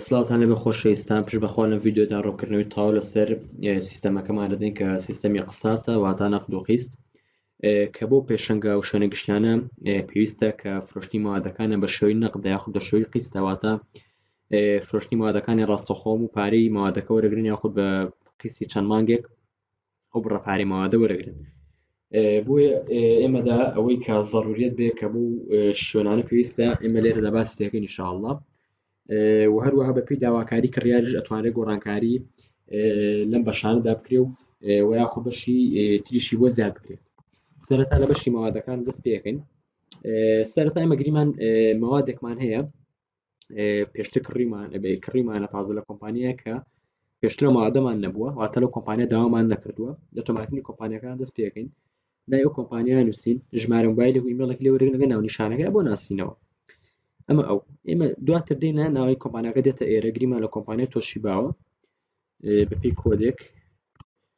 سلاوتان لەبێ خۆشەویستان پشت بەخوا لەم ڤیددیودا ڕۆکردنەوەی تاو لەسەر سیستەمەکەمان دەدەین کە سیستەمی قساتە واتا نەقد و قیست کە بۆ پێشنگا و شوێنە گشتیانە پێویستە کە فرۆشتنی مادەکانە بە شێوی نەقد یاخود بە شێوی قیستەواتە فرۆشتنی مادەکانی ڕاستەخۆم و پارەی مادەکە وەرەگرن یاخود بە قیسی چەند مانگێک ئەو بڕە پارەی مەوادە وەرەگرن بۆیە ئێمەدا ئەوەی کا زەڕوریت بێ کە بوو شوێنانە پێویستە ئێمە لێرەدا باس دەکەن نیشاءله و هەروەها بەپی داواکاری کڕیاریش ئەتوانێت گۆڕانکاری لەم بەشاندا بکرێ و و یاخۆ بەشی تریشی بۆ زیاد بکرێت سەرەتا لە بەشی مەوادەکان دەست پێکەین سەرەتای مەگریمان مەوادێکمان هەیە پێشتر کڕیمان کڕیمانە تازە لە کۆمپانیە کە پێشترە مادەمان نەبووە واتە لە کۆمپانیا داوامان نەکردووە لە تۆماتنی کۆمپانیەکان دەست پێکەین لای ئەو کۆمپانیا نووسین ژمارە موبایلی ویمەڵێک لێ وەرگەگە ناو نیشانەکە بۆ ناسینەوە ئەمە ئەو ئێمە دواتر دێنە ناوی کۆمپانیەکە دێتە ئێرە گریمان لە کۆمپانیا تۆشی باوە بەپێی کۆدێک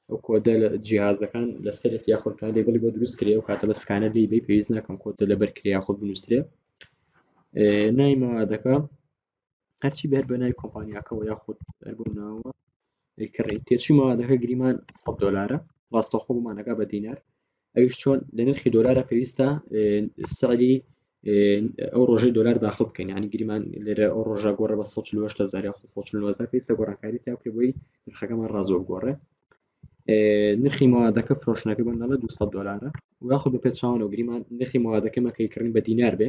ئەو کۆدە لە جیهازەکان لە سەرەت یاخود کان لێبڵی بۆ دروست کرێ و کاتە بە سکانە لی بی پێویست ناکەم کۆدە لەبەر کرێ یاخود بنووسێ نای مەوادەکە هەرچی بەر بە نای کۆمپانیاکەەوە یاخود هەر بۆ ناوە کڕی تێچوومەوە دەکە گریمان 100 دلارە ڕاستەخۆمانەکە بە دینار ئەویش چۆن لە نرخی دۆلارە پێویستە سەری ئەو ڕۆژەی دۆلار داخل بکەین ینی گریمان لێرە ئەو ڕۆژە گۆڕە بە 1970 پێی سەگۆڕانکاری تا پێ بۆی نرخەکەمان ڕازۆ بگۆڕێ نرخی موادەکە فرۆشنەکە بندڵە 200 دلارە یاخود بە پێچوانەوە گریمان نرخی موادەکەمەکەی کڕین بە دینار بێ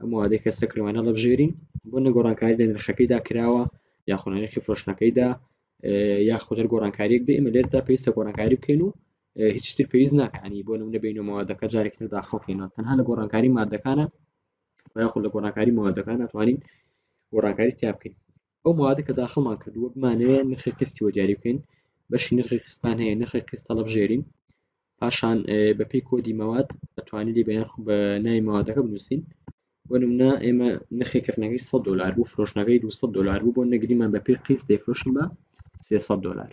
ئەم وادەی کە سەکرمان هەڵبژێرین بۆ نەگۆڕانکاری لە نرخەکەیدا کراوە یاخۆ نرخی فرۆشتنەکەیدا یا خۆدەر گۆڕانکاریەک بێ ئمە لێردا پێویستە گۆڕانکاری بکەین و هیچتر پێویست ناکانی بۆ نمونە بین و مادەکە جارێکتر داخڵکەینەوە تەنها لە گۆڕانکاری مادەکانە یاخود لە گۆڕانکاری مادەکان ناتوانین گۆڕانکاری تیا بکەین ئەو موادە کە داخڵمان کردووە بمانەوێ نرخی قستی بۆ دیاری بکەین بەشی نرخی قستمان هەیە نرخی قست هەڵبژێرین پاشان بەپی کۆدی مەواد ئەتوانانی لێ بەیان بە نای مەوادەکە بنووسین بۆ نمونە ئێمە نرخی کردنەکەی 100 دلار بوو فرۆشنەکەی 200 دلار بوو بۆ نەگریمان بەپی قیس دەیفرۆشن بە 300 دلار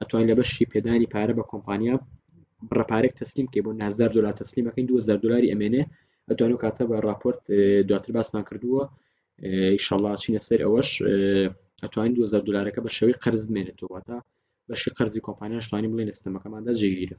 ئەتوانی لە بەشی پێدانی پارە بە کۆمپانیا بڕە پارێک تەسلیم کەی بۆ نازدار دلار تەسلیمەکەین 2000 دلاری ئەمێنێ ئەتوان و کاتە بە راپۆرت دواتر باسمان کردووە ئیشەڵا چینە سەر ئەوەش ئەتوانین 2000 دلارەکە بە شێوەی قەرز بمێنێتەوەتە بەشی قەرزی کۆمپانیاشتوانی بڵێن ئستەمەکەماندا جێگیرە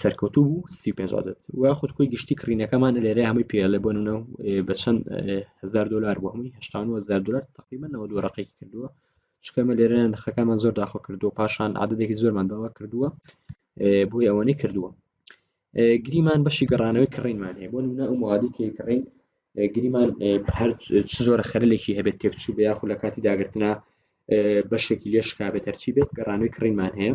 سەرکەوتوو بوو سی پێ عادەت و خود خۆی گشتی کڕینەکەمان لێرە هەمووی پێڵێ بۆ نونە بە چەند هزار دلار بۆ هەمووی هزار دلار تقریبا نەوە دوو ڕقێکی کردووە شکەمە لێرە نرخەکەمان زۆر داخۆ کردووە پاشان عادەتێکی زۆرمان داوا کردووە بۆی ئەوەنەی کردووە گریمان بەشی گەڕانەوەی کڕینمان هەیە بۆ نونە ئەو موادی کە کڕین گریمان هەر چ زۆرە خەرلێکی هەبێت تێکچوو بە یاخو لە کاتی داگرتنا بەشێکی لێشکا بێت هەرچی بێت گەڕانەوەی کڕینمان هەیە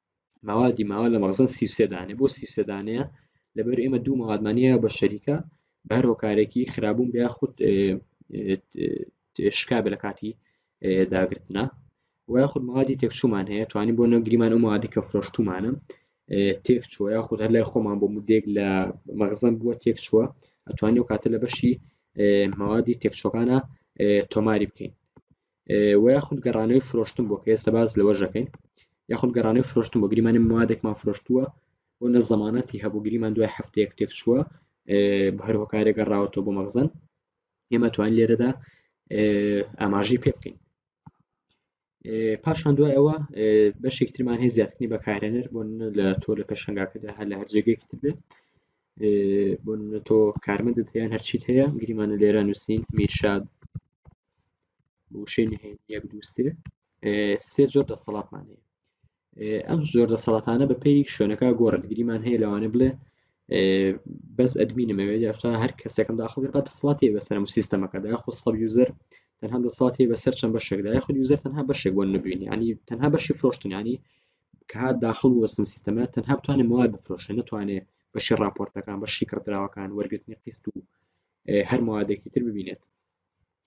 مەوادی ماوە لە مەغزن سی و سێ دانێ بۆ سی و سێ دانەیە لەبەر ئێمە دوو مەوادمانە بە شەریکە بە هەر هۆکارێکی خراببوون بیا خود شکابە لە کاتی داگرتنە وای خود مەوادی تێکچوومان هەیە توانین بۆ نەگریمان و مادی کە فرۆشتومانم تێک چوە یا خود هەر لای خۆمان بۆ مدێک لە مەغزم بووە تێک چووە ئەتوانی و کاتە لە بەشی مەوادی تێکچۆکانە تۆماری بکەین وە یاخود گەڕانەوەی فرۆشتن بۆ کە ئێستا باز لەوە ژەکەین یاخود گەڕانەوەی فرۆشتن بۆ گریمانی موادێکمان فرۆشتووە بۆ نە زەمانەتی هەبوو گریمان دوای هەفتەیەک تێک چووە هەر هۆکارێک گەڕاوەەوە بۆ مەغزن ئێمە توان لێرەدا ئاماژی پێ بکەین پاشان دوای ئەوە بەشێک ترمان هەیە زیاتنی بەکارێنەر بۆ لە تۆ لە پێشنگاکەدا هەر لە هەرجێگەێکی تر بێت بۆ تۆ کارمەندت یان هەرچیت هەیە گریمانە لێرە نووسین میرشاد وشەی نهێن یەک دوو سێ سێ جۆر دەسەڵاتمان هەیە ئەم زۆر دەسەڵاتانە بەپی شوێنەکە گۆڕدگریمان هەیە لەوانە بڵێ بەس ئەدمینمەوێ یاختا هەر کەسێکم داخڵ بە دەسەڵاتی بەسەرم و سیستەمەکەدا یاخۆ سڵ یوزەر تەنها دەسەڵاتی بەسەر چەند بەشێکدا یاخود یوزەر تەنها بەشێک بۆ نبینی ینی تەنها بەشی فرۆشتنانی کە هاات داخل وەسم سیستەمە تەنها بتوانێت مواد بفرۆشە نتوانێت بەشی راپۆرتەکان بەشی کڕدراوەکان وەرگرتنی قیست و هەر موادێکی تر ببینێت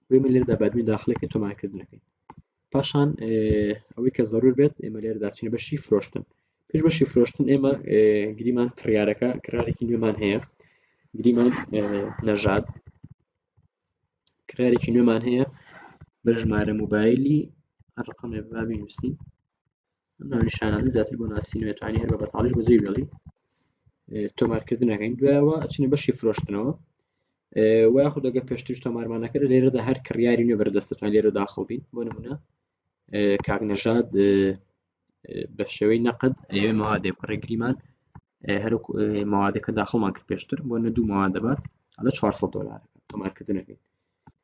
بۆی من لێرەدا بادمی داخلەکە تۆمارکردنەکەین پاشان ئەوەی کە زەرور بێت ئێمە لێرەدا چین بەشی فرۆشتن پێش بەشی فرۆشتن ئێمە گریمان کڕارەکە کڕارێکی نوێمان هەیە گریمان نەژاد کڕارێکی نوێمان هەیە بە ژمارە موبایلی ڕقم بابی نووسین ئەم ناو نیشانانە زیاتر بۆ ناسینەوە توانی هەر بە بەتاڵیش بەجێی بێڵی تۆمارکردنەکەین دوایەوە ئەچینە بەشی فرۆشتنەوە و یاخود دەگە پێشتر تۆمارمانەکە لێرەدا هەر کڕیاری نوێ بەردەستەتوان لێرە داخڵ بین بۆ نمونە کاکنەژاد بە شێوەی نەقد ئەوێ مەوادێ کوڕی گریمان هەر مەوادەکە داخڵمان کرد پێشتر بۆ نە دوو مەوادەبات ئەلە 400 دلار تۆمارکردنەکەی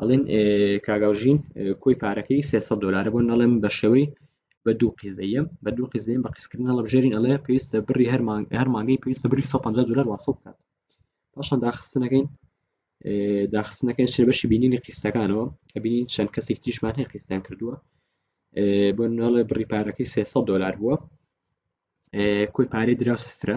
ئەڵێن کاک ئەوژین کۆی پارەکەی 300 دلارە بۆ نەڵێم بە شێوەی بە دوو قیزەیە بە دوو قیزەیە بە قیسکردن هەڵبژێرین ئەڵێ پێویستە بڕی هەرمان هەرمانگەی پێویستە بری 150 دلار واسە بکات پاشان داخستنەکەین داخستنەکەی چێ بەشی بینینی قیستەکانەوە کە بینین چەند کەسێک تیشمان هەیە قیستیان کردووە بۆ ناڵێ بڕی پارەکەی 300 دلار بووە کۆی پارەی درا سفرە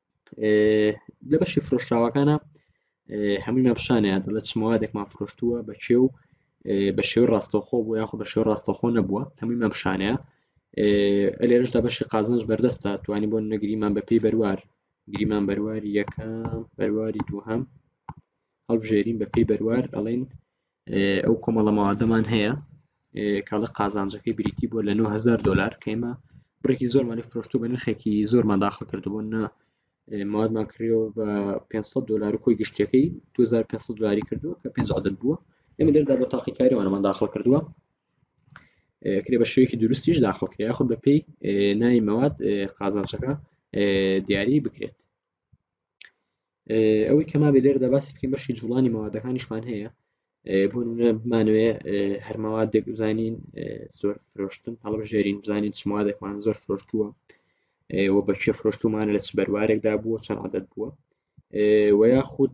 لە بەشی فرۆشراوەکانە هەموویان پیشانیان لە چمەوادێکمان فرۆشتووە بە کێ و بە شێوی ڕاستەخۆ بوو یاخۆ بە شێو ڕاستەخۆ نەبووە هەموویمان پیشانەیە ئەلێرشدا بەشی قازنج بەردەستە توانی بۆ نەگریمان بە پێی بەروار گریمان بەرواری یەکەم بەرواری دووهەم هەڵبژێرین بە پێی بەروار ئەڵین ئەو کۆمەڵە مەوادەمان هەیە کاڵە قازانجەکەی بریتی بۆ لە 9000 دلار کەمە بڕێکی زۆرمانی فرۆشت و بە نرخێکی زۆرمان داخل کردبوو نە مادمان کریەوە بە 500 دلار و کۆی گشتەکەی 2500 دلاری کردووە کە 5 عدد بووە ئەمە لێردا بۆ تاقیکاریوانەمان داخل کردووە کرێ بە شوێکی دروستیش داخل کرێ یاخود بە پێی نای مەواد قازانچەکە دیاری بکرێت ئەوەی کە مابێ لێرەدا باسی بکەین بەشی جوڵانی مەوادەکانیشمان هەیە بۆ بمانوێ هەرمەوادێک بزانین زۆر فرۆشتن هەڵبژێرین بزانین چ مادێکمان زۆر فرۆشتووە و بەکێ فرۆشتومانە لە چ بەروارێکدا بووە چەند عادەت بووە و یاخود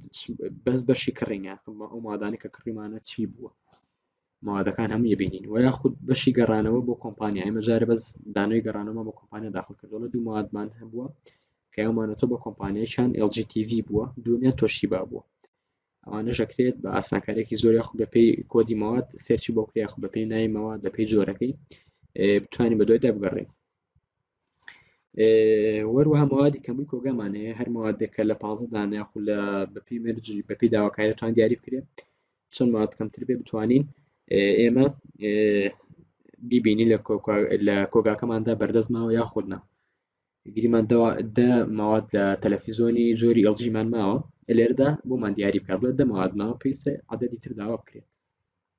بەس بەشی کڕین یاخمە ئەو مادانە کە کڕیمانە چی بووە موادەکان هەمووی بینین و یاخود بەشی گەڕانەوە بۆ کۆمپانیا ئێمە جارە بەس دانەوەی گەڕانەوەمان بۆ کۆمپانیا داخل کردەوە دوو موادمان هەبووە کە یامانەتۆ بە کۆمپانیایان LGTV بووە دومیان تۆشی با بووە ئەوانە ژەکرێت بە ئاسانکارێکی زۆر یاخود بەپی کۆدی مواد سێرچی بۆ کریا خو بەپی نای مواد بەپی جۆرەکەی بتوانین بە دوایدا بگەڕێن وەروەها موادی کەمووی کۆگەمان هەیە هەر موادێک کە لە پازە دانە یاخو لە بەپی مەرجی بەپی داواکاریتوان دیاری بکرێت چەند مواد کەمتر بێ بتوانین ئێمە بیبینی لە لە کۆگاکەماندا بەردەستماوە یاخودنا گریمان دە مواد لە تەلەفیزۆنی جۆری ئەڵجیمان ماوە لێردا بۆمان دیاری بکات بڵێت دەمەوادماوە پێویستە عادەتی تر داوا بکرێت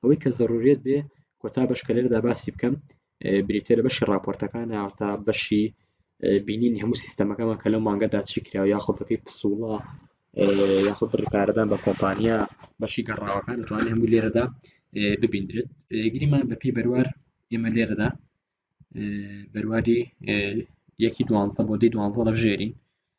ئەوەی کە زەرورێت بێ کۆتا بەش کە لێرەدا باسی بکەم بریتە لە بەشی راپۆرتەکان تا بەشی بینین هەموو سیستەمەکەمان کە لەم مانگەدا چی کرا یاخۆ بەپی پسوڵە یاخود بڕی پارەدان بە کۆمپانیا بەشی گەڕاوەکان دەتوانێت هەموو لێرەدا ببیندرێت گریمان بەپی بەروار ئێمە لێرەدا بەرواری یەکی دوانزە بۆ دی دوانزە لە ژێرین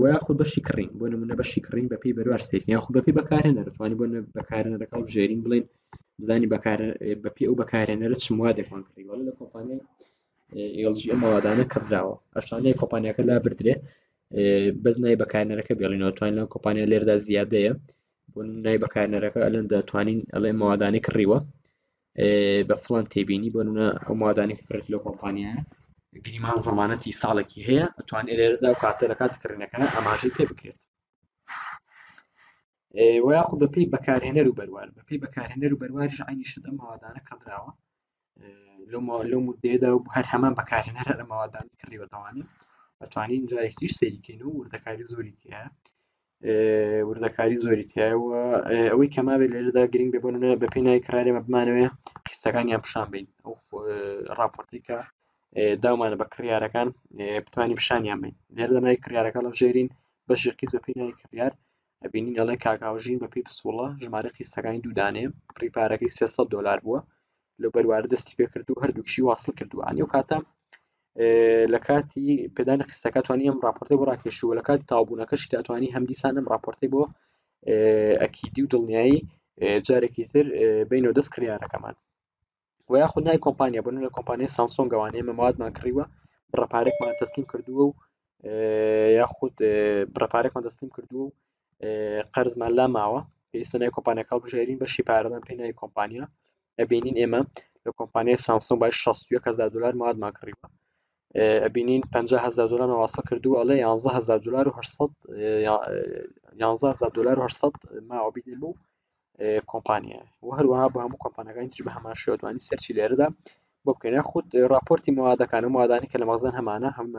وە یاخود بەشی کڕین بۆ نمونە بەشی کڕین بە پێی بەروار سەیر یاخو بە پێی بەکارهێنەر توانی بۆ بەکارهێنەرەکە هەڵبژێرین بڵێن بزانین بەکار بە پێی ئەو بەکارهێنەرە چ موادێکمان کڕی وەڵا لە کۆمپانیای LG ئەم موادانە کڕدراوە ئەشانەیە کۆمپانیاکە لا بردرێ بەس نای بەکارهێنەرەکە بێڵینەوە توانین لەم کۆمپانیا لێردا زیادەیە بۆ نای بەکارهێنەرەکە ئەلەن دەتوانین ئەڵێ موادانەی کڕیوە بە فڵان تێبینی بۆ نمونە ئەو مادانێک کڕێت لەو کۆمپانیایە گریمان زەمانەتی ساڵێکی هەیە ئەتوان ئێرێرەدا و کاتە لە کات کڕینەکە ئاماژەی پێ بکرێت و یاخود بە پێی بەکارهێنەر و بەروار بە پێی بەکارهێنەر و بەروارش عینی شت ئەم مادانە کڕدراوە لەو مدەیەدا و هەر هەمان بەکارهێنەر هەر مادان کڕیوەتەوانێت ئەتوانین جارێکیش سەیریکەین و وردەکاری زۆری تیا وردەکاری زۆری تایە و ئەوەی کە ماوێت لێرەدا گرنگ بێ بۆنە بە پێی نای کرارێمە بمانەوەێ قیسەکانیان پیشان بین ئەو راپۆرتیکە داومانە بە کڕیارەکان بتوانین پیشانیان بین لێرەدا نای کڕارەکە لە ژێرین بەشی قیس بە پێی نای کڕار ئەبینین ئەڵێ کاکاوژین بە پێی پسوڵە ژمارە قیسەکانی دوودانێ پریپارەکەی 300 دلار بووە لەو بەروارە دەستی پێکرد و هەردووکشی واصل کردووە ئەنی و کاتە لە کاتی پێدانی قستەکە توانی ئەم راپۆرتی بۆ ڕاکێشووە لە کاتی تاوبوونەکەشی داتوانانی هەمدیسان ئەم راپۆرتی بۆ ئەکیدی و دڵنیایی جارێکی تر بینەوە دەست کریارەکەمان و یاخود نای کۆمپانیا بن لە کۆمپانیای سامسۆن گەوانەیە مەمادمان کڕیوە بڕەپارێکمان تەسلیم کردووە و یاخود بڕەپارێکمان دەستیم کردووە و قەرزمان لا ماوە پێویستە نای کۆمپانیەکە بژێرین بەشی پارەدان پێ نای کۆمپانیا ئەبینین ئێمە لە کۆمپانیای سامسۆن بای 16هزار دلار مادمان کڕیوە ئەبینین 500هزار دلار ماواسە کردو ئەڵێ 11هزار دلار و 11هزار دلار 800 ماوەبیێ بوو کۆمپانیا و هەروەها بە هەموو کۆمپانەکانی تر بە هەمان شێوەتوانی سەرچی لێرەدا بۆ بکەین خودت راپۆرتی مادەکانە مادانی کە لە مەزان هەمانە هەمومان